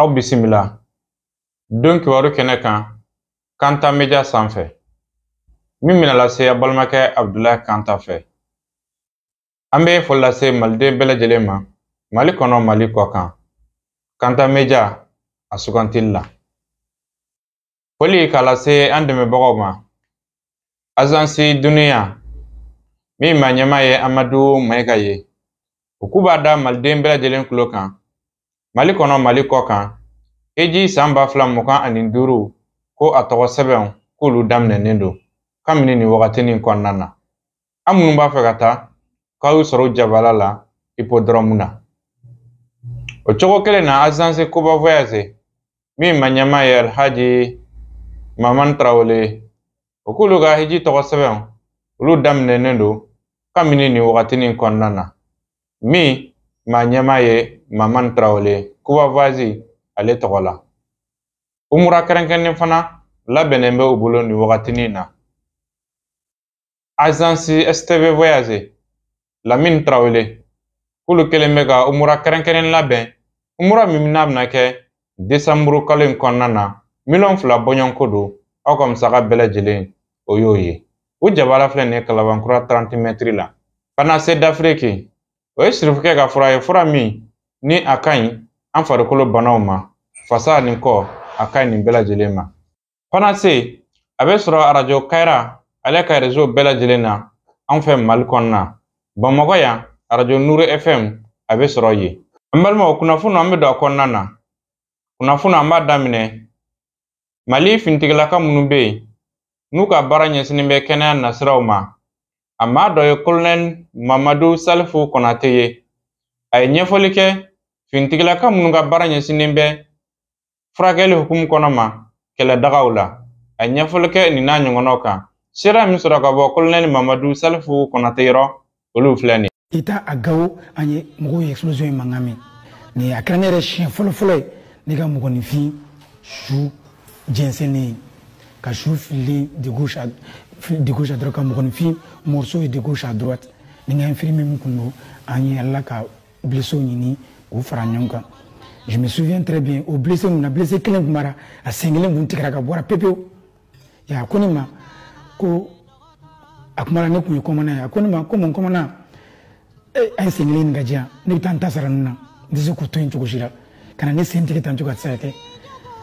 aw bisimila don kibaru kɛnɛ kan kanta media sanfɛ min bɛna lase a balimakɛ abudulayi kanta fɛ an bɛ foli lase maliden bɛɛ lajɛlen ma mali kɔnɔ mali kɔ kan kanta media a sugantili la Foli k'a lase an dɛmɛbagaw ma azansi duniya min ma ɲɛmaa ye amadu mayiga ye u k'u b'a da maliden bɛɛ lajɛlen tulo kan mali kɔnɔ mali kɔ kan hiji san ba fila mugan ani duuru ko a tɔgɔ sɛbɛnw k'olu daminɛnen don kabini nin wagatinin kɔnɔna na aw minnu b'a fɛ ka taa k'u sɔrɔ u jabala la ipodɔrɔmu na o cogo kelen na azansi koba voyage min ma ɲɛmaa ye alhaji maman tarawele ye u k'olu ka hiji tɔgɔ sɛbɛn olu daminɛnen don kabini nin wagatinin kɔnɔna na min ma ɲɛmaa ye maman tarawele ye koba voyage ale tɔgɔ la umura kɛrɛnkɛrɛnnen fana labɛnnen bɛ u bolo nin wagatinin na azansi stv voyage lamini tarawele k'olu kɛlen bɛ ka umura kɛrɛnkɛrɛnnen labɛn umura min n'a bɛna kɛ desanburu kalo in kɔnɔna na miliyɔn fila bɔɲɔgɔnko don aw ka musaka bɛɛ lajɛlen o y'o ye u jabala filɛ nin ye kalabankura 30 mɛtiri la panase dafiriki o ye sirifukɛ ka fura ye fura min ni a ka ɲi an farikolo banaw ma fasa ni kɔ a ka ɲi nin bɛɛ lajɛlen ma panase a bɛ sɔrɔ arajo kayira ale ka rezo bɛɛ lajɛlen na an fɛ mali kɔnɔna bamakɔ yan arajo nuru fm a bɛ sɔrɔ yen an balimaw kunnafoni an bɛ don a kɔnɔna na kunnafoni an b'a daminɛ mali finitigilaka minnu bɛ yen n'u ka baara ɲɛsinnen bɛ kɛnɛya nasiraw ma a maa dɔ ye kolonɛli mamadu salifu kɔnate ye a ye ɲɛfɔli kɛ finitigilaka minnu ka baara ɲɛsinnen bɛ furakɛli hukumu kɔnɔ ma kɛlɛdagaw la a ye ɲɛfɔli kɛ nin n'a ɲɔgɔnnaw kan seereya min sɔrɔ ka bɔ kolonɛli mamadu salifu kɔnate yɔrɔ olu filɛ nin ye i taa gawo an ye mɔgɔw ye explosion in mankan mɛn nin a kɛra ne yɛrɛ siɲɛ fɔlɔfɔlɔ ye ne ka mɔgɔninfin su jɛnsɛnnen ye ka su fililen de gauche à de gauche à droite ka mɔgɔninfin morceau ye de gauche à droite ni n ka infirmier min kun don an ye ala ka blessés ɲini k'u fara ɲɔgɔn kan je me souviens très bien o blessé ninnu na blessé kelen tun b'a ra a sen kelen tun tigɛra ka bɔ a ra pepewu a ko ne ma ko a tuma na ne tun ye commandant ye a ko ne ma ko mon commandant eh, a ye sen kelen nin k'a di yan ne bɛ taa n ta sara ninnu na n tɛ se k'u to yen cogo si la ka na ne sen tigɛ tan cogo a tɛ se ka kɛ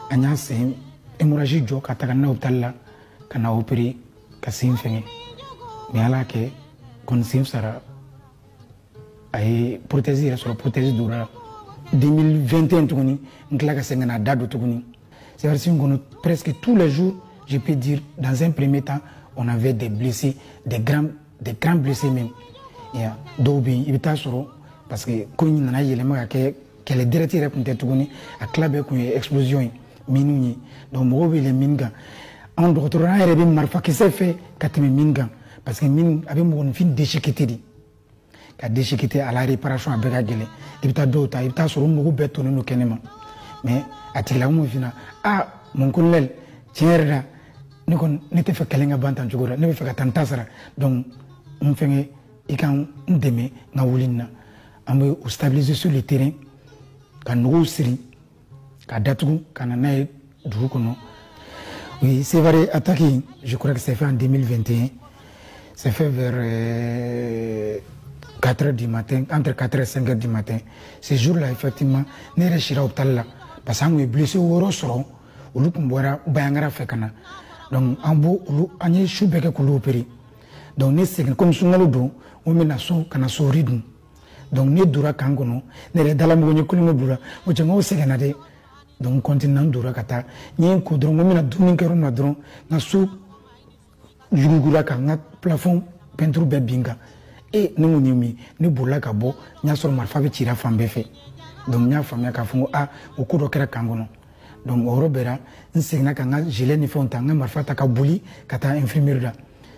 an y'a sen hémorragie jɔ ka taga n'a ye hôpital la ka n'a opérer ka sen fɛngɛ mais ala y'a kɛ kɔni sen fisara a ye protɛsi yɛrɛ sɔrɔ protɛsi donna la 2021 tuguni n tila ka segin ka na da don tuguni sɛriwisi in kɔnɔ presque tous les jours je peux dire dans un premier temps on avait des blessés des grands des grands blessés même ya dɔw bɛ yen i bɛ taa sɔrɔ parce que ko in nana yɛlɛma ka kɛ kɛlɛ direct yɛrɛ tun tɛ tuguni a tila bɛɛ tun ye explosion ye miniw ye donc mɔgɔw bɛ yɛlɛn mini kan anw dɔgɔtɔrɔya yɛrɛ bɛ marifakisɛ fɛ ka tɛmɛ mini kan parce que mini a bɛ mɔgɔninfin déchiqueter de ka déchiqueter a la réparation a bɛɛ ka gɛlɛn i bɛ taa dɔw ta i bɛ taa sɔrɔ u nugu bɛɛ tonnen don kɛnɛ ma mais a tigilamɔgɔ fina a mon colonel tiɲɛ yɛrɛ la ne kɔni ne tɛ fɛ kɛlɛ ka ban tan cogo la ne bɛ fɛ ka taa n ta sara donc n fɛngɛ i ka n dɛmɛ n ka wuli nin na an bɛ u stabiliser sur le terrain ka nuguw siri ka datugu ka na n'a ye dugu kɔnɔ o ye sevare ataki in je crois que c'est fait en 2021 c'est fait vers euh, 4 heures du matin entre 4 heures et 5 heures du matin ce jour là effectivement ne yɛrɛ sira hôpital la parce que an tun ye blessé wɔɔrɔ sɔrɔ olu tun bɔra Bandiagara fɛ ka na donc an b'o olu an ye su bɛɛ kɛ k'olu opere donc ne segin komi sunkalo don n ko n bɛ na so ka na suri dun donc ne dura kan kɔnɔ ne yɛrɛ dala mɔgɔ ye kulonkɛ b'ura o cɛ nkaw sɛgɛnna dɛ donc kɔntinina n dora ka taa n ɲɛ ko dɔrɔn ko n bɛna dumuni kɛ yɔrɔ min na dɔrɔn n ka so yuguyugura ka n ka plafɔn pɛnturu bɛɛ bin n kan e ne ko nin ye mun ye ne bolila ka bɔ n y'a sɔrɔ marifa bɛ cira fan bɛɛ fɛ donc n y'a faamuya k'a fɔ ko a o ko dɔ kɛra kan kɔnɔ donc o yɔrɔ bɛɛ la n seginna ka n ka gilet ni fɛnw ta n ka marifa ta ka boli ka taa infirmerie la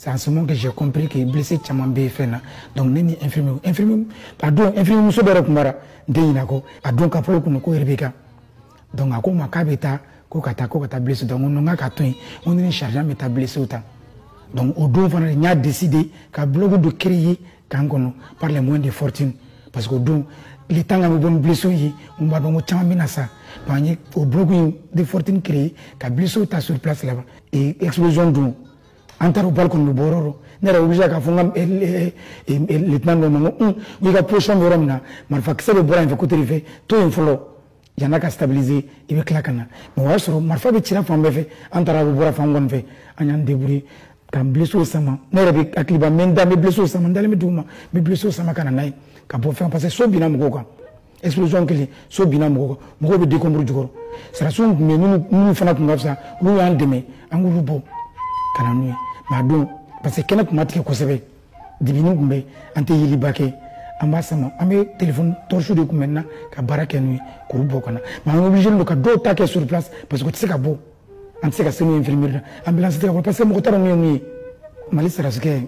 C'est en ce moment que j'ai compris que blessé caman bɛ fɛn na donc ne ni infirmier infirmier a don infirmier muso dɔ yɛrɛ tun bara n tɛ ɲinɛ a kɔ a don ka fɔ e kunna ko yɛrɛ bɛ kan donc a ko n ma k'a bɛ taa ko ka taa ko ka taa blessé donc n ko k'a ka to yen n ko ne ni sergent bɛ taa blessé ta donc o don fana n y'a décider ka bloc dɔ créer kan kɔnɔ par les moyens de fortune parce que o don le temps k'an bɛ bɔ ni blessé ye n b'a dɔn ko caman bɛna sa donc an ye o bloc in de fortune créer ka blessé ta sur place là-bas et explosion don an taara balle kɔni bɛ bɔ yɔrɔ ne yɛrɛ obligé k'a fɔ n ka eh, eh, eh, lieutenant dɔ ma n ko un ko i ka position bɛ yɔrɔ min na marifakisɛ bɛ bɔra yen fɛ côté de fɛ to yen fɔlɔ yan'a ka stabiliser i bɛ tila ka na mais o y'a sɔrɔ marifa bɛ cira fan bɛɛ fɛ an taara bɛ bɔra fan kɔni fɛ an y'an débrouiller ka blessé sama ne yɛrɛ bɛ hakiliba n bɛ n da n bɛ blessé sama n dalen bɛ duguma n bɛ blessé sama ka na n'a ye ka bɔ fɛn parce que so binna mɔgɔw kan explosion kɛlen so binna mɔgɔ mɔgɔw bɛ décombres jukɔrɔ sɔrɔdasiw tun bɛ yen minnu fana tun ka fisa olu y'an dɛmɛ an k'olu bɔ ka na n'u ye mais a don parce que kɛnɛ tun ma tigɛ kosɛbɛ dibini tun bɛ an tɛ yeliba kɛ an b'a sama an bɛ telefɔni tɔrisiw de kun b'an na ka baara kɛ n'u ye k'olu bɔ ka na mais an obligé don ka dɔw ta kɛ sur place parce que u tɛ se ka bɔ an tɛ se ka se n'u infirmerie la ambulance tɛ ka bɔ parce que mɔgɔ t'a dɔn min ye mun ye mali sɔrɔdasikɛ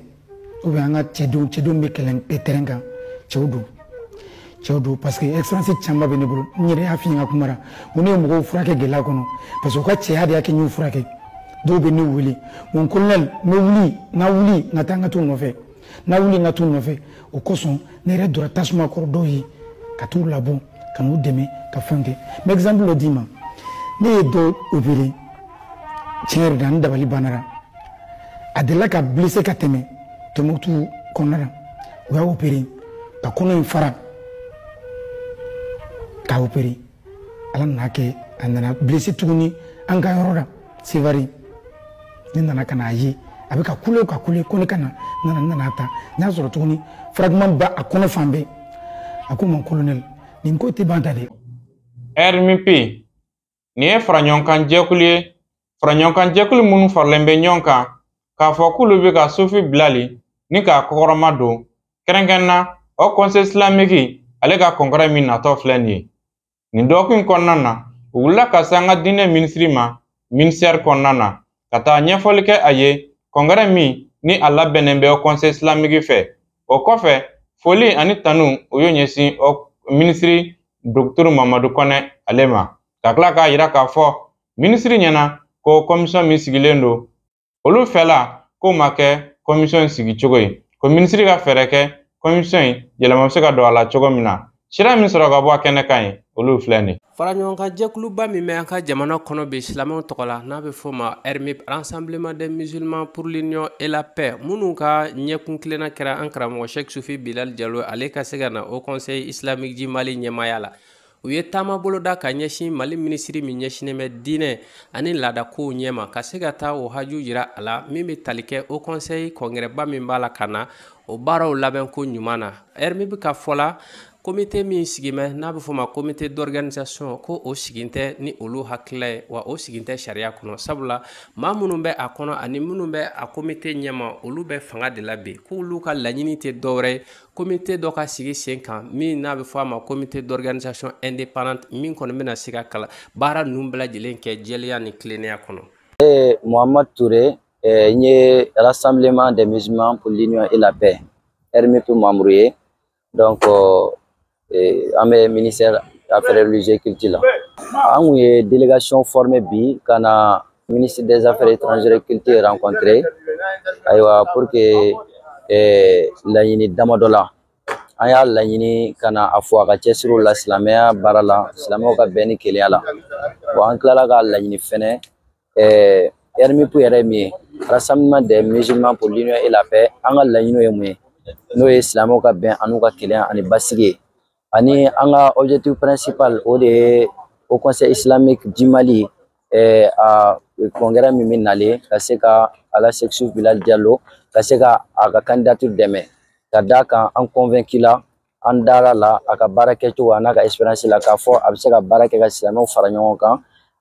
ou bien an ka cɛdenw cɛdenw bɛ kɛlɛ terrain kan cɛw don cɛw don parce que expérience caman bɛ ne bolo n yɛrɛ y'a f'i ɲɛna kuma na ko ne ye mɔgɔw furakɛ gɛlɛya kɔnɔ parce que u ka cɛya de y'a kɛ n y'u furakɛ dɔw bɛ ne wele ko mon colonel n bɛ wuli n ka wuli n ka taa n ka t'u nɔfɛ n ka wuli n ka t'u nɔfɛ o kosɔn ne yɛrɛ donna tasuma kɔrɔ dɔw ye ka t'u labɔ ka n'u dɛmɛ ka fɛnw kɛ n bɛ exemple dɔ d'i ma ne ye dɔ opéré tiɲɛ yɛrɛ la n dabali banna a delila ka blessé ka tɛmɛ tombouctou kɔnɔna na u y'a opéré ka kɔnɔ in fara k'a opéré ala nan'a kɛ a nana blessé tuguni an ka yɔrɔ la sévaré ne nana ka n'a ye a bɛ ka kule ka kule ko ne ka na n nana taa n y'a sɔrɔ tuguni fragment b'a kɔnɔ fan bɛɛ a ko mon colonel nin ko tɛ ban tan dɛ rmp nin ye faraɲɔgɔnkan jɛkulu ye faraɲɔgɔnkan jɛkulu minnu faralen bɛ ɲɔgɔn kan k'a fɔ k'olu bɛ ka sufi bilali ni k'a kɔkɔrɔma don kɛrɛnkɛrɛnna haut conseil islamique ale ka congrès min natɔ filɛ nin ye nin dɔgɔkun kɔnɔna na u wulila ka se an ka diinɛ minisiri ma minisɛri kɔnɔna na ka taa ɲɛfɔli kɛ a ye congrès min ni a labɛnnen bɛ haut conseil islamique fɛ o kɔfɛ foli ani tanu u y'o ɲɛsin minisiri dɔkitɛri mamadu kɔnɛ ale ma ka tila k'a yira k'a fɔ minisiri ɲɛna ko kɔmisɔn min sigilen don olu fɛla k'o ma kɛ kɔmisɔn sigicogo ye ko minisiri ka fɛɛrɛ kɛ kɔmisɔn in yɛlɛma bɛ se ka don a la cogo min na sira min sɔrɔ ka bɔ a kɛnɛ kan ye olu filɛ nin faraɲɔgɔnkan jɛkuluba min bɛ an ka jamana kɔnɔ bi silamɛw tɔgɔ la n'a bɛ fɔ ma rmup rassemblement des musulmans pour l'union et la paix minnu ka ɲɛkun tilenna kɛra an karamɔgɔ sheikh sufi bilal jalo ale ka se ka na haut conseil islamique du mali ɲɛmaaya la u ye taama boloda ka ɲɛsin mali minisiri min ɲɛsinen bɛ diinɛ ani laadakow ɲɛma ka se ka taa o haju yira a la min bɛ tali kɛ haut conseil kɔngɛrɛba min b'a la ka na o baaraw labɛn ko ɲuman na rmup ka fɔ la komite min sigilen bɛ n'a bɛ fɔ ma comité d'organisation ko o sigin tɛ ni olu hakilila ye wa o sigilen tɛ sariya kɔnɔ sabula maa minnu bɛ a kɔnɔ ani minnu bɛ a komite ɲɛma olu bɛ fanga de la bi k'olu ka laɲini tɛ dɔwɛrɛ ye komite dɔ ka sigi sen kan min n'a bɛ fɔ a ma comité d'organisation indépendante min kɔni bɛna se ka kala baara ninnu bɛɛ lajɛlen kɛ jɛlenya ni tilennenya kɔnɔ. Ee Muhammad Ture n ye rassemblement des musulmans pour l'union et la paix RMUP membre ye donc an bɛ ministère affaires religieuses culture la an kun ye délégation formée bi ka na ministre des affaires étrangères et culture rencontré ayiwa pour que laɲini damadɔ la an y'a laɲini ka na a fo a ka cɛsiri la silamɛya baara la silamɛw ka bɛn ni kelenya la wa an tilala ka laɲini fɛnɛ ɛɛ RMUP yɛrɛ min ye Rassemblement des musulmans pour l'union et la paix an ka laɲiniw ye mun ye n'o ye silamɛw ka bɛn an'u ka kelenya ani basigi ye ani an ka objectif principal o de ye Haut Conseil islamique du Mali ɛɛ a congrès min bɛ nalen ka se ka Ala Seku Sufi Bilali Jalo ka se ka a ka candidature dɛmɛ ka d'a kan an convaincu la an dara la a ka baara kɛcogo a n'a ka expérience la k'a fɔ a bɛ se ka baara kɛ ka silamɛw fara ɲɔgɔn kan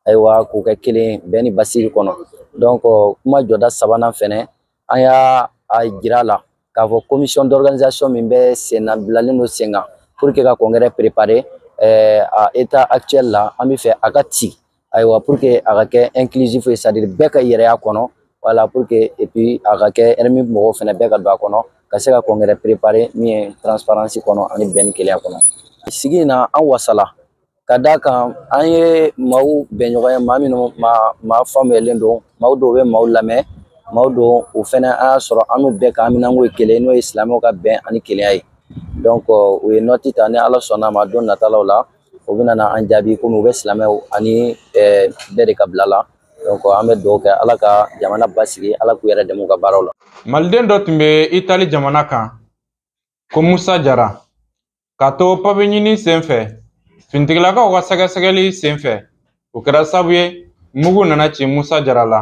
ayiwa k'u kɛ kelen bɛn ni basigi kɔnɔ donc kuma jɔda sabanan fɛnɛ an y'a jira la k'a fɔ commission d'organisation min bɛ sen na bilalen don sen kan pour que ka congrès préparer eh, à état actuel la an bɛ fɛ a ka ci ayiwa pour que a ka kɛ inclusif ye c'est à dire bɛɛ k'a yɛrɛ ye a kɔnɔ voilà pour que et puis a ka kɛ RMUP mɔgɔw fɛnɛ bɛɛ ka don a kɔnɔ ka se ka congrès préparer min ye transparence kɔnɔ ani bɛn ni kelenya kɔnɔ sigi in na an wasala ka d'a kan an ye maaw bɛnɲɔgɔn ye maa minnu maa maa faamuyalen don maaw don u bɛ maaw lamɛn maaw don o fɛnɛ an y'a sɔrɔ an n'u bɛɛ ka haminanko ye kelen n'o ye silamɛw ka bɛn ani kelenya ye donc u ye nɔti ta ni ala sɔnna ma don natalaw la u bɛna na an jaabi komi u bɛ silamɛw ani bɛɛ de ka bila la donc an bɛ dugawu kɛ ala ka jamana basigi ala k'u yɛrɛ dɛmɛ u ka baaraw la maliden dɔ tun bɛ itali jamana kan ko musa jara ka to papiye ɲini sen fɛ finitigilakaw ka sɛgɛsɛgɛli sen fɛ o kɛra sabu ye mugu nana ci musa jara la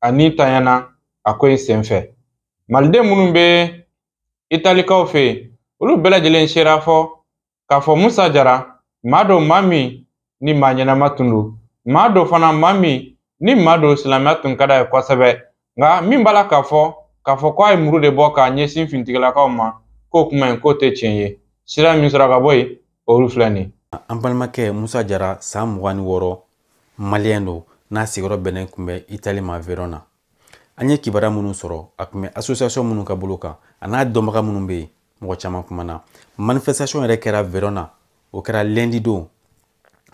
a ni tiɲɛna a ko in sen fɛ maliden minnu bɛ italikaw fɛ yen olu bɛɛ lajɛlen sera fɔ k'a fɔ musa jara maa don maa min ni maa ɲɛnama tun don maa don fana maa min ni maa don silamɛya tun ka d'a ye kosɛbɛ nka min b'a la k'a fɔ k'a fɔ ko a ye muru de bɔ k'a ɲɛsin finitigilakaw ma k'o kuma in k'o tɛ tiɲɛ ye sira min sɔrɔ ka bɔ yen olu filɛ nin an balimakɛ musa jara san mugan ni wɔɔrɔ maliyɛn don n'a sigiyɔrɔ bɛnnen tun bɛ itali ma verona an ye kibaruya minnu sɔrɔ a tun bɛ association minnu ka bolo kan a n'a dɔnbaga minnu bɛ yen mɔgɔ caman kumana manifestation yɛrɛ kɛra verona o kɛra lundi don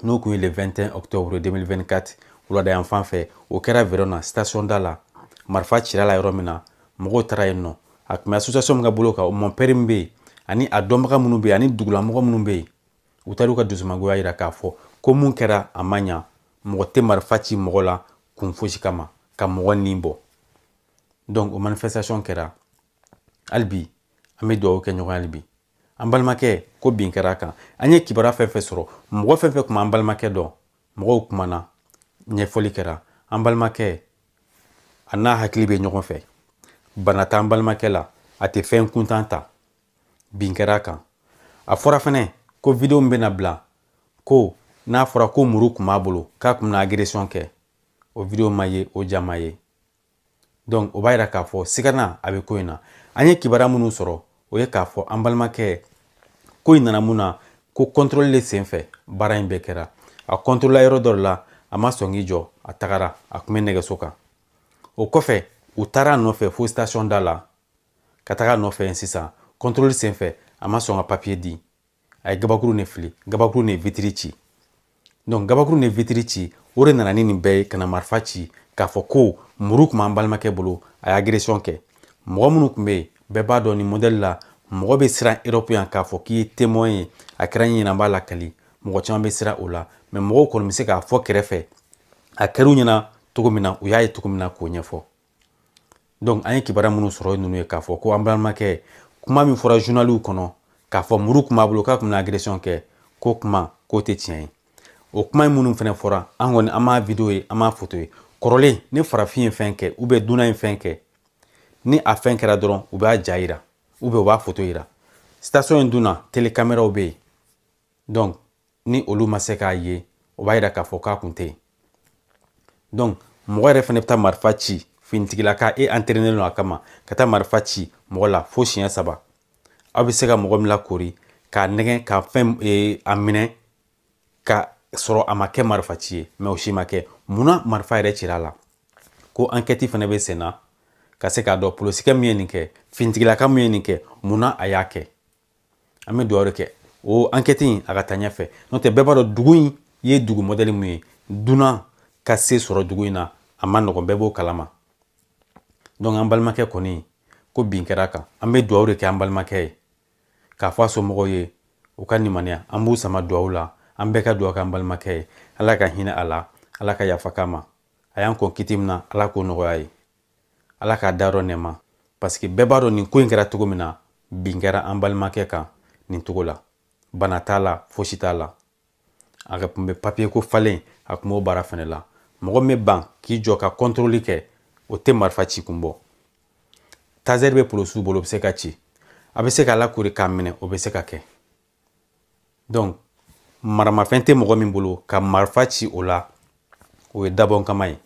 n'o tun ye le 21 octobre 2024 wulada yan fan fɛ o kɛra verona station da la marifa cira la yɔrɔ min na mɔgɔw taara yen nɔ a tun bɛ association min ka bolo kan o mɔnpɛri min bɛ yen ani a dɔnbaga minnu bɛ yen ani dugulamɔgɔ minnu bɛ yen u taar'u ka dusumangoya yira k'a fɔ ko min kɛra a ma ɲa mɔgɔ tɛ marifa ci mɔgɔ la kun fosi kama ka mɔgɔ ni bɔ donc o manifestation kɛra hali bi an bɛ dugawu kɛ ɲɔgɔn hali bi an balimakɛ ko min kɛra a kan an ye kibaruya fɛn fɛn sɔrɔ mɔgɔ fɛn fɛn tun b'an balimakɛ dɔn mɔgɔw kumana ɲɛfɔli kɛra an balimakɛ a n'a hakili bɛ ɲɔgɔn fɛ bana t'an balimakɛ la a tɛ fɛn kuntan ta bin kɛra a kan a fɔra fɛnɛ ko video min bɛna bila ko n'a fɔra ko muru kun b'a bolo k'a kun bɛna agression kɛ o video ma ye o ja ma ye donc o b'a yira k'a fɔ sigana a bɛ ko in na an ye kibaruya minnu sɔrɔ o ye k'a fɔ an balimakɛ ko in nana mun na ko contrôle de senfɛ baara in bɛɛ kɛra a contrôle yɔrɔ dɔ la a ma sɔn k'i jɔ a tagara a kun bɛ nɛgɛso kan o kɔfɛ u taara a nɔfɛ fo station da la ka taga a nɔfɛ yen sisan kɔntɔrɔli senfɛ a ma sɔn ka papiye di a ye gabakuru ne fili gabakuru ne vitiri ci donc gabakuru ne vitiri ci o de nana ni nin bɛɛ ye ka na marifa ci k'a fɔ ko muru kun b'an balimakɛ bolo a ye agresiyɔn kɛ mɔgɔ minnu kun bɛ yen bɛɛ b'a dɔn nin mɔdɛli la mɔgɔ bɛ siran erɔpu yan k'a fɔ k'i ye temɔn ye a kɛra i ɲɛna i b'a lakali mɔgɔ caman bɛ siran o la mɛ mɔgɔw kɔni bɛ se k'a fɔ kɛrɛfɛ a kɛr'u ɲɛna cogo min na u y'a ye cogo min na k'o ɲɛfɔ donc an ye kibaruya minnu sɔrɔ ninnu ye k'a fɔ ko an balimakɛ kuma min fɔra journaliw kɔnɔ k'a fɔ muru kun b'a bolo k'a kun bɛna agression kɛ k'o kuma k'o tɛ tiɲɛ ye o kuma minnu fɛnɛ fɔra an kɔni an m'a video ye an m'a foto ye kɔrɔlen ni farafin ye fɛn kɛ ubiyɛn dunan ye fɛn kɛ ni a fɛn kɛra dɔrɔn u b'a ja yira ubiyɛn u b'a foto yira station in dun na telekameraw bɛ yen donc ni olu ma se k'a ye o b'a yira k'a fɔ k'a kun tɛ yen donc mɔgɔ yɛrɛ fɛnɛ bɛ taa marifa ci finitigilaka e entraîné don a kama ka taa marifa ci mɔgɔ la fo siɲɛ saba aw bɛ se ka mɔgɔ min lakori k'a nɛgɛn ka fɛn e, a minɛ ka sɔrɔ a ma kɛ marifa ci ye mɛ o si ma kɛ munna marifa yɛrɛ cira a la ko ankɛti fɛnɛ bɛ sen na ka se k'a dɔn polosikɛ min ye nin kɛ finitigilaka min ye nin kɛ munna a y'a kɛ an bɛ dugawu de kɛ o ankɛti in a ka taa ɲɛfɛ n'o tɛ bɛɛ b'a dɔn dugu in ye dugu mɔdɛli min ye dunan ka se sɔrɔ dugu in na a man nɔgɔn bɛɛ b'o kalama donc an balimakɛ kɔni ko bin kɛra a kan an bɛ dugawu de kɛ an balimakɛ ye k'a fɔ a somɔgɔw ye u ka limaniya an b'u sama dugawu la an bɛɛ ka dugawu kɛ an balimakɛ ye ala ka hinɛ a la ala ka yafa k'a ma a y'an kɔn kiti min na ala k'o nɔgɔya a ye ala k'a dayɔrɔ nɛɛma parce que bɛɛ b'a dɔn nin ko in kɛra cogo min na bin kɛra an balimakɛ kan nin cogo la bana t'a la fosi t'a la a tun bɛ papiye ko falen a kun b'o baara fɛnɛ la mɔgɔ min bɛ ban k'i jɔ ka kɔntoroli kɛ o tɛ marifa ci kun bɔ tazɛri bɛ polosiw bolo o bɛ se ka ci a bɛ se k'a lakori k'a minɛ o bɛ se ka kɛ donc maramafɛn tɛ mɔgɔ min bolo ka marifa ci o la o ye dabɔnkama ye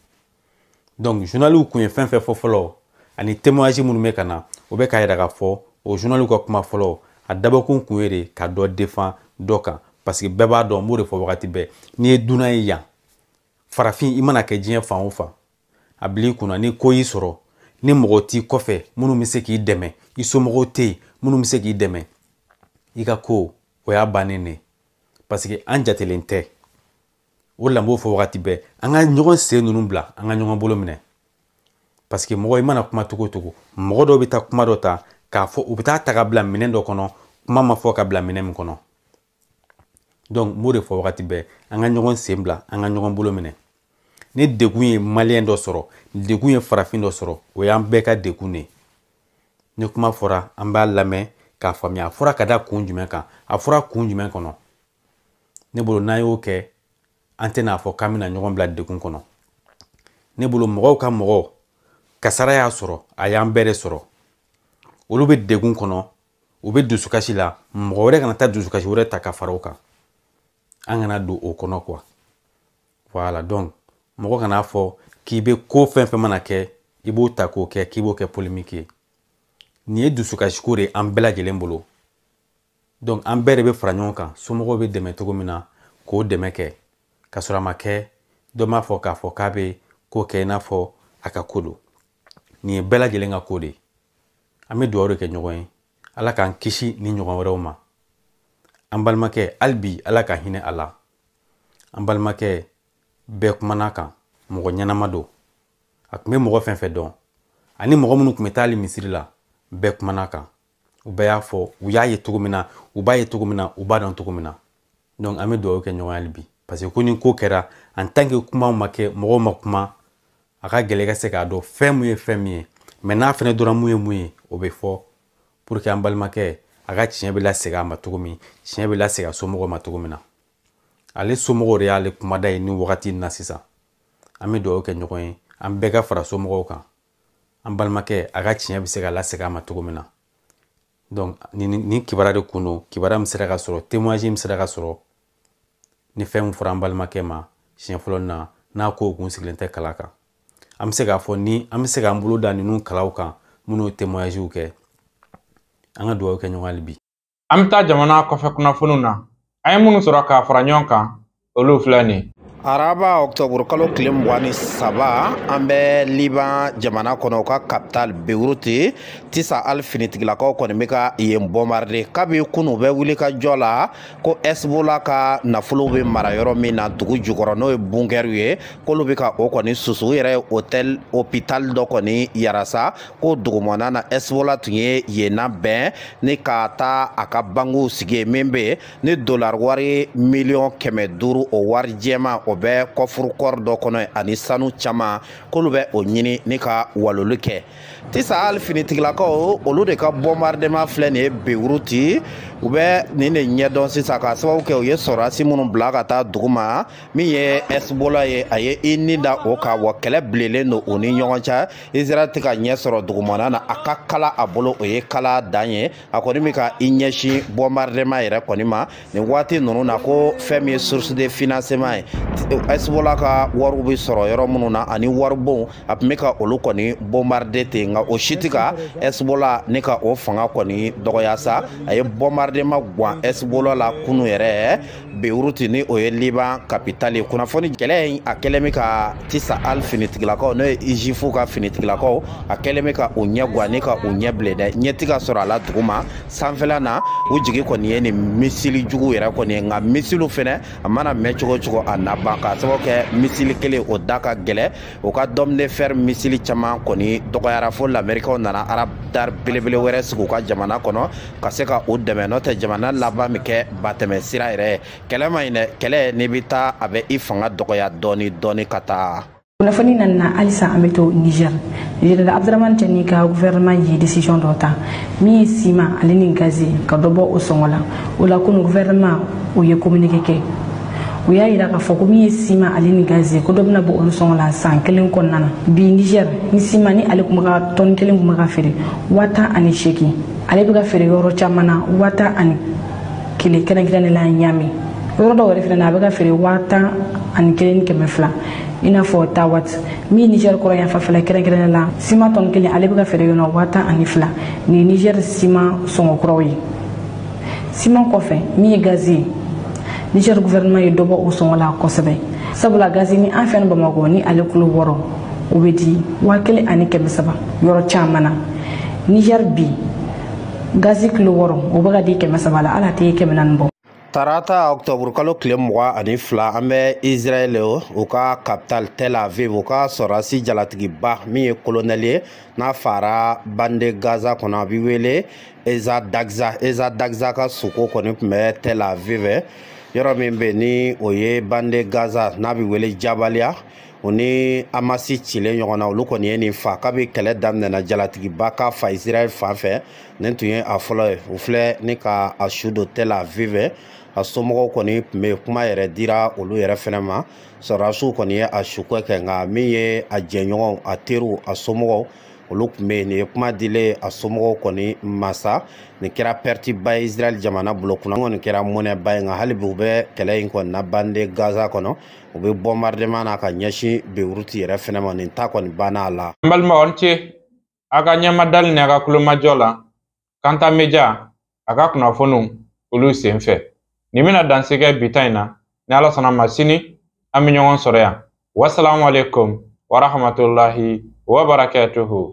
donc journaliw kun ye fɛn fɛn fɔ fɔlɔ ani témoignage minnu bɛ ka na o bɛ k'a yira k'a fɔ o journaliw ka kuma fɔlɔ a dabɔkun kun ye de ka dɔ defan dɔ kan parce que bɛɛ b'a dɔn n b'o de fɔ wagati bɛɛ n'i ye dunan ye yan farafin i mana kɛ diɲɛ fan o fan a bil'i kunna ni ko y'i sɔrɔ ni mɔgɔ t'i kɔfɛ minnu bɛ se k'i dɛmɛ i somɔgɔw tɛ yen minnu bɛ se k'i dɛmɛ i ka ko o y'a bannen de parce que an jatelen tɛ o de la n b'o fɔ wagati bɛɛ an ka ɲɔgɔn sen ninnu bila an ka ɲɔgɔn bolo minɛ parce que mɔgɔ i mana kuma cogo o cogo mɔgɔ dɔw bɛ taa kuma dɔ ta k'a fɔ u bɛ taa ta ka bila minɛn dɔ kɔnɔ kuma ma fɔ ka bila minɛn min kɔnɔ donc n b'o de fɔ wagati bɛɛ an ka ɲɔgɔn sen bila an ka ɲɔgɔn bolo minɛ ni degun ye maliyɛn dɔ sɔrɔ degun ye farafin dɔ sɔrɔ o y'an bɛɛ ka degun de ye ni kuma fɔra an b'a lamɛn k'a faamuya a fɔra ka da kun jumɛn kan a fɔra kun jumɛn kɔnɔ ne bolo n'an y'o kɛ an tɛna fɔ k'an bɛna ɲɔgɔn bila degun kɔnɔ ne bolo mɔgɔw ka mɔgɔ kasara y'a sɔrɔ a y'an bɛɛ de sɔrɔ olu bɛ degun kɔnɔ u bɛ dusukasi la mɔgɔ wɛrɛ kana taa dusukasi wɛrɛ ta ka fara o kan an kana don o kɔnɔ quoi voilà donc mɔgɔ kana fɔ k'i bɛ ko fɛn fɛn mana kɛ i b'o ta k'o kɛ k'i b'o kɛ polémique ye nin ye dusukasiko de ye an bɛɛ lajɛlen bolo donc an bɛɛ de bɛ fara ɲɔgɔn kan somɔgɔw bɛ dɛmɛ cogo min na k'o dɛmɛ kɛ ka sɔrɔ a ma kɛ dɔ m'a fɔ k'a fɔ k'a bɛ ko kɛ i n'a fɔ a ka ko don nin ye bɛɛ lajɛlen ka ko de ye an bɛ dugawu de kɛ ɲɔgɔn ye ala k'an kisi nin ɲɔgɔn wɛrɛw ma an balimakɛ hali bi ala ka hinɛ a la an balimakɛ bɛɛ kumana a kan mɔgɔ ɲɛnama don a tun bɛ mɔgɔ fɛn fɛn dɔn ani mɔgɔ minnu tun bɛ taa hali misiri la bɛɛ kumana a kan u bɛɛ y'a fɔ u y'a ye cogo min na u b'a ye cogo min na u b'a dɔn cogo min na donc an bɛ dugawu kɛ ɲɔgɔn ye hali bi parce que ko ni ko kɛra en tant que kumaw ma kɛ mɔgɔw ma kuma a ka gɛlɛn ka se k'a dɔn fɛn mun ye fɛn min ye mais n'a fɛnɛ dɔrɔn mun ye mun ye o bɛ fɔ pour que an balimakɛ a ka tiɲɛ bɛ lasegin a ma cogo min tiɲɛ bɛ lasegin a somɔgɔw ma cogo min na ale somɔgɔw de y'ale kumada ye nin wagati in na sisan an bɛ dugawu kɛ ɲɔgɔn ye an bɛɛ ka fara somɔgɔw kan an balimakɛ a ka tiɲɛ bɛ se ka lasegin a ma cogo min na donc ni nin kibaruya de kun don kibaruya min sera ka sɔrɔ témoignage min sera ka sɔrɔ ni fɛn min fɔra an balimakɛ ma siɲɛ fɔlɔ na n'a ko kun sigilen tɛ kala kan an bɛ se k'a fɔ ni an bɛ se k'an bolo da ninnu kalaw kan minnu ye témoignagew kɛ an ka dugawu kɛ ɲɔgɔn hali bi an bɛ taa jamana kɔfɛ kunnafoniw na an ye minnu sɔrɔ k'a fara ɲɔgɔn kan olu filɛ nin araba octobre kalo tile mugan ni saba an bɛ liban jamana kɔnɔ u ka capitale beyrouth tsahal finitigilakaw kɔni bɛ ka yen bombarder kabi kunu u bɛ wulikajɔ la ko hezbollah ka nafolo bɛ mara yɔrɔ min na dugu jukɔrɔ n'o ye bunkerw ye k'olu bɛ ka o kɔni susu u yɛrɛ ye hôtel hôpital dɔ kɔni yira sa ko o dugumana na hezbollah tun ye yen labɛn ni ka taa a ka banquew sigi min bɛ ni dolar wari miliyɔn kɛmɛ duuru o wari jɛma o bɛ kɔfuru fɔri dɔ kɔnɔ ani sanu caman k'olu bɛ o ɲini ni ka waloli kɛ tisahali finitigilakaw olu de ka bɔnbaridema filɛ nin ye bewuruti u bɛ nin de ɲɛdɔn sisan k'a sababu kɛ u ye sɔrɔdasi minnu bila ka taa duguma min ye ɛsibola ye a ye i ni da o kan wa kɛlɛ bilenlen don u ni ɲɔgɔn cɛ israɛl tɛ ka ɲɛ sɔrɔ dugumana na a ka kalan a bolo o ye kalan dan ye a kɔni bɛ ka i ɲɛsin bɔnbaridema yɛrɛ kɔni ma nin waati ninnu na ko fɛn min ye source de financement ye ɛsibola ka wariw bɛ sɔrɔ yɔrɔ minnu na ani waribonw a tun bɛ ka olu kɔni bɔnbaride ten nka o si tɛ ka ɛsibola ni ka o fanga kɔni dɔgɔya sa a ye bɔnbaridema gan ɛsibola la kunu yɛrɛ beuruti ni o ye liban kapitali ye kunnafoni kɛlɛ in a kɛlen bɛ ka tisahal finitigilakaw n'o ye zuifu ka finitigilakaw a kɛlen bɛ ka u ɲɛ gwan ni ka u ɲɛ bilen dɛ ɲɛ tɛ ka sɔrɔ a la duguma sanfɛla na u jigi kɔni ye nin misili jugu yɛrɛ kɔni ye nka misiliw fɛnɛ a mana mɛn cogo cogo a na ban k'a sababu kɛ misili kelen o da ka gɛlɛ u ka dôme de fer misili caman kɔni dɔgɔyara fo lamerikaw nana aradar belebele wɛrɛ sigi u ka jamana kɔnɔ ka se ka u dɛmɛ n'o tɛ jamana laban bɛ kɛ batɛmɛ sira yɛrɛ kɛlɛ man ɲi dɛ kɛlɛ n'i bɛ taa a bɛ i fanga dɔgɔya dɔɔni dɔɔni ka taa kunnafoni nana halisa an bɛ to niger general abdramane tiani ka gouvernement ye decision dɔ ta min ye siman ale ni gazi ka dɔ bɔ o sɔngɔ la o la kunu gouvernement o ye communiqué kɛ u y'a yira k'a fɔ ko min ye siman ale ni gazi ko dɔ bɛna bɔ olu sɔngɔ la san kelen kɔnɔna na bi niger ni siman ni ale tun bɛ ka tɔni kelen tun bɛ ka feere waa tan ani seegin ale bɛ ka feere yɔrɔ caman na waa tan ani kelen kɛrɛnkɛrɛnnen la ɲamɛ yɔrɔ dɔw yɛrɛ fana na a bɛ ka feere waa tan ani kelen ni kɛmɛ fila i n'a fɔ tawa min niger kɔrɔn yan fanfɛla kɛrɛnkɛrɛnnen la siman tɔni kelen ale bɛ ka feere yɔrɔ waa tan ani fila nin niger siman sɔngɔ kuraw ye siman kɔfɛ min ye gazi ye niger gouvernement ye dɔ bɔ o sɔngɔ la kosɛbɛ sabula gazi ni an fɛ bamakɔ ni ale kilo wɔɔrɔ o bɛ di waa kelen ani kɛmɛ saba yɔrɔ caman na niger bi gazi kilo wɔɔrɔ o bɛ ka di kɛmɛ saba la ale tɛ kɛmɛ naani bɔ tarata octobre kalo tile mugan ani fila an bɛ israɛl u ka capital tel aviv u ka sɔrɔdasi jalatigiba min ye kolonɛli ye n'a fara bande gaza kɔnɔ a bɛ wele eza dagza eza dagza ka suko kɔni tun bɛ tel aviv yɔrɔ min bɛ ni o ye bande gaza n'a bɛ wele jabaliya u ni amasi cilen ɲɔgɔn na olu kɔni ye nin fa kabi kɛlɛ daminɛna jalatigiba ka fa israɛl fan fɛ nin tun ye a fɔlɔ ye u filɛ ni ka a su don tel aviv a somɔgɔw kɔni tun bɛ kuma yɛrɛ dira olu yɛrɛ fɛnɛ ma sɔrɔdasiw kɔni ye a suko kɛ nka min ye a jɛɲɔgɔnw a teriw a somɔgɔw olu tun bɛ yen nin ye kuma dilen a somɔgɔw kɔni ma sa nin kɛra pɛritiba ye israɛl jamana bolo ko in kɔni kɛra mɔnɛba ye nka hali bi u bɛ kɛlɛ in kɔni na bande gaza kɔnɔ u bɛ bɔnbarideman na ka ɲɛsin beyiruti yɛrɛ fɛnɛ ma nin ta kɔni banna a la n balimaw ni ce a ka ɲɛmadali ni a ka tulomajɔ la kanta media a ka kunnafoniw olu sen fɛ nin bɛna dan sigi bi ta in na ni ala sɔnna a ma sini an bɛ ɲɔgɔn sɔrɔ yan wasalamu aleykum warahmatulahi wabarakatuhu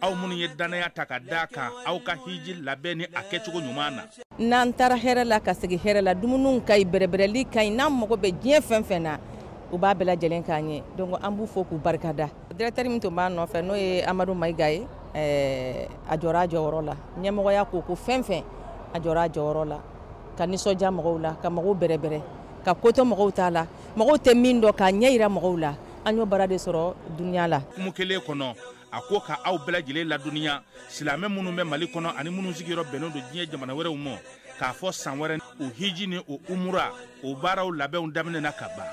aw minnu ye dannaya ta ka da kan aw ka hiji labɛn ni a kɛcogo ɲuman na n'an taara hɛrɛ la ka segin hɛrɛ la dumuniw ka ɲi bɛrɛbɛrɛli ka ɲi n'an mago bɛ diɲɛ fɛn fɛn na u b'a bɛɛ lajɛlen k'an ye donc an b'u fo k'u barikada directeur min tun b'a nɔfɛ n'o ye amadu mayiga ye eh, a jɔra a jɔyɔrɔ la ɲɛmɔgɔya ko ko fɛn fɛn a jɔra a jɔyɔrɔ la ka nisɔndiya mɔgɔw la ka mɔgɔw bɛrɛbɛrɛ ka koto mɔgɔw ta la mɔgɔw tɛ min dɔn k'a ɲɛ yira mɔgɔw la an y'o baara de sɔrɔ duniya la kuma kelen kɔnɔ a ko ka aw bɛɛ lajɛlen ladɔnniya silamɛ minnu bɛ mali kɔnɔ ani minnu sigiyɔrɔ bɛnnen don diɲɛ jamana wɛrɛw ma k'a fɔ san wɛrɛ o hiji ni o umura o baaraw labɛnw daminɛna ka ban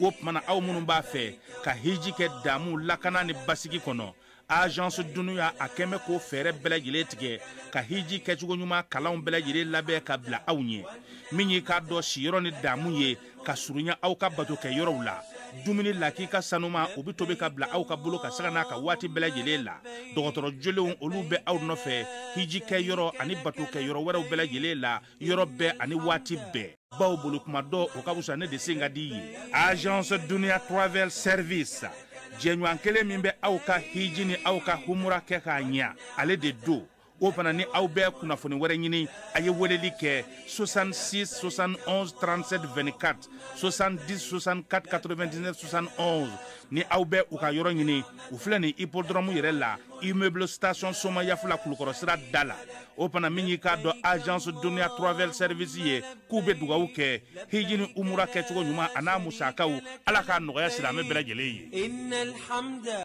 o tuma na aw minnu b'a fɛ ka hiji kɛ damu lakana ni basigi kɔnɔ agence dunia a kɛmɛ ko fɛɛrɛ bɛɛ lajɛlen tigɛ ka hiji kɛcogo ɲuman kalanw bɛɛ lajɛlen labɛn ka bila aw ɲɛ min y'i k'a dɔn siyɔrɔ ni damu ye ka surunya aw ka bato kɛ yɔrɔw la dumuni lakika sanuman o bɛ tobi ka bila aw ka bolo kan sanga n'a ka waati bɛɛ lajɛlen la dɔgɔtɔrɔ jolenw olu bɛ aw nɔfɛ hiji kɛ yɔrɔ ani bato kɛ yɔrɔ wɛrɛw bɛɛ lajɛlen la yɔrɔ bɛɛ ani waati bɛɛ bawo boli kuma dɔn o ka wusa ne de sen ka di ye agence dunia travel service jɛɲɔgɔn kelen min bɛ aw ka hiji ni aw ka umura kɛ k'a ɲɛ ale de don o fana ni aw bɛ kunnafoni wɛrɛ ɲini a ye weleli kɛ 66 71 37 24 70 64 99 71 ni aw bɛ u ka yɔrɔ ɲini u filɛ nin hippodrome yɛrɛ la immeuble station somayaf la kulukɔrɔ sira da la o fana min y'i k'a dɔn agence dunia travel service ye k'u bɛ dugawu kɛ hiji ni umura kɛcogo ɲuman a n'a musakaw ala k'a nɔgɔya silamɛ bɛɛ lajɛlen ye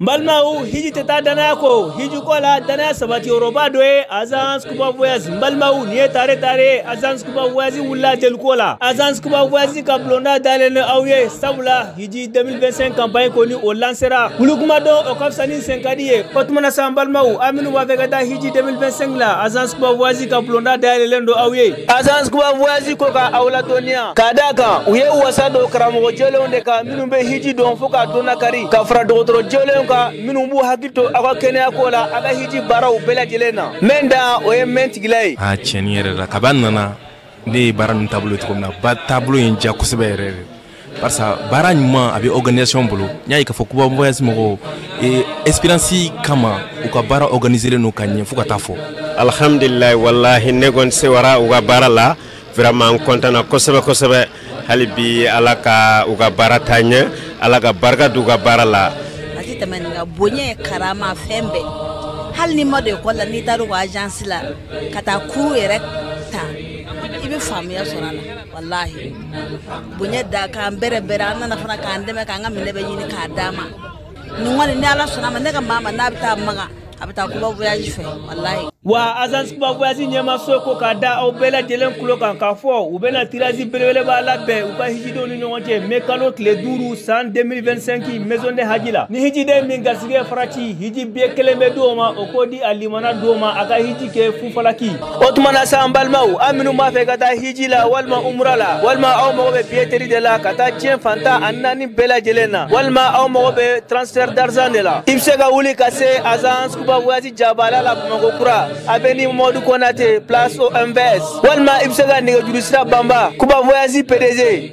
n balimaw hiji tɛ taa dannaya kɔ hiji ko la dannaya sabati yɔrɔba dɔ ye agence kuba voyage n balimaw nin ye tare tare agence kuba voyage wulila deliko la agence kuba voyage ka bulonda dayɛlɛlen don aw ye sabula hiji 2025 campagne kɔni o lansera boli kuma dɔn o ka fisa ne sen ka di ye o tuma na sa n balimaw aw minnu b'a fɛ ka taa hiji 2025 la agence kuba voyage ka bulonda dayɛlɛlen don aw ye Agence kuba voyage ko ka aw ladɔnniya ka d'a kan u ye wasa don karamɔgɔ jɛlenw de kan minnu bɛ hiji dɔn fo k'a dɔnna kari ka fara dɔgɔtɔrɔ jɛlenw kan minnu b'u hakili to aw ka kɛnɛya ko la aw ka hiji baaraw bɛɛ lajɛlen na mɛn da o ye mɛn tigi la ye. Aa tiɲɛni yɛrɛ la kab'an nana ne ye baara ninnu taabolo ye cogo min na ba taabolo ye n diya kosɛbɛ yɛrɛ de parce que baara ɲuman a bɛ organisation bolo n y'a ye k'a fɔ kuba voyage mɔgɔw eh, expérience kama u ka baara organiselen don ka ɲɛ fo ka taa fɔ alhamdulilayi walahi ne kɔni sewara u ka baara la vraiment n kɔntana kosɛbɛ kosɛbɛ hali bi ala ka u ka baara taa ɲɛ ala ka barika d'u ka baara la a tɛ tɛmɛ nin kan bonya karama fɛn bɛɛ hali n'i ma don ekɔli la n'i taara u ka agence la ka taa cours yɛrɛ ta i bɛ faamuya sɔrɔ a la walahi bonya d'an kan bɛrɛ bɛrɛ an nana fana k'an dɛmɛ k'an ka minɛn bɛɛ ɲini k'a d'an ma ne kɔni ni ala sɔnna a ma ne ka maa maa n'a bɛ taa maka a bɛ taa kuba voyage fɛ walahi wa agence kuba voyage ɲɛmaaso ko k'a da aw bɛɛ lajɛlen tulo kan k'a fɔ u bɛna tirage belebeleba labɛn u ka hijidenw ni ɲɔgɔn cɛ mɛ kalo tile duuru san 2025 maison du hadj la ni hijiden min garisɛgɛ farati hiji biye kelen bɛ di o ma o k'o di a limana di o ma a ka hiji kɛ fu falaki o tuma na sa an balimaw aw minnu b'a fɛ ka taa hiji la walima umura la walima aw mago bɛ billetterie de la ka taa diɲɛ fan tan ani naani bɛɛ lajɛlen na walima aw mago bɛ transfert d'argent de la i bɛ se ka wuli ka se agence kuba voyage jabala la bamakɔ kura avenue mɔdu konate place omvs walima i bɛ se ka nɛgɛjuru sira banba kuba voyage pdg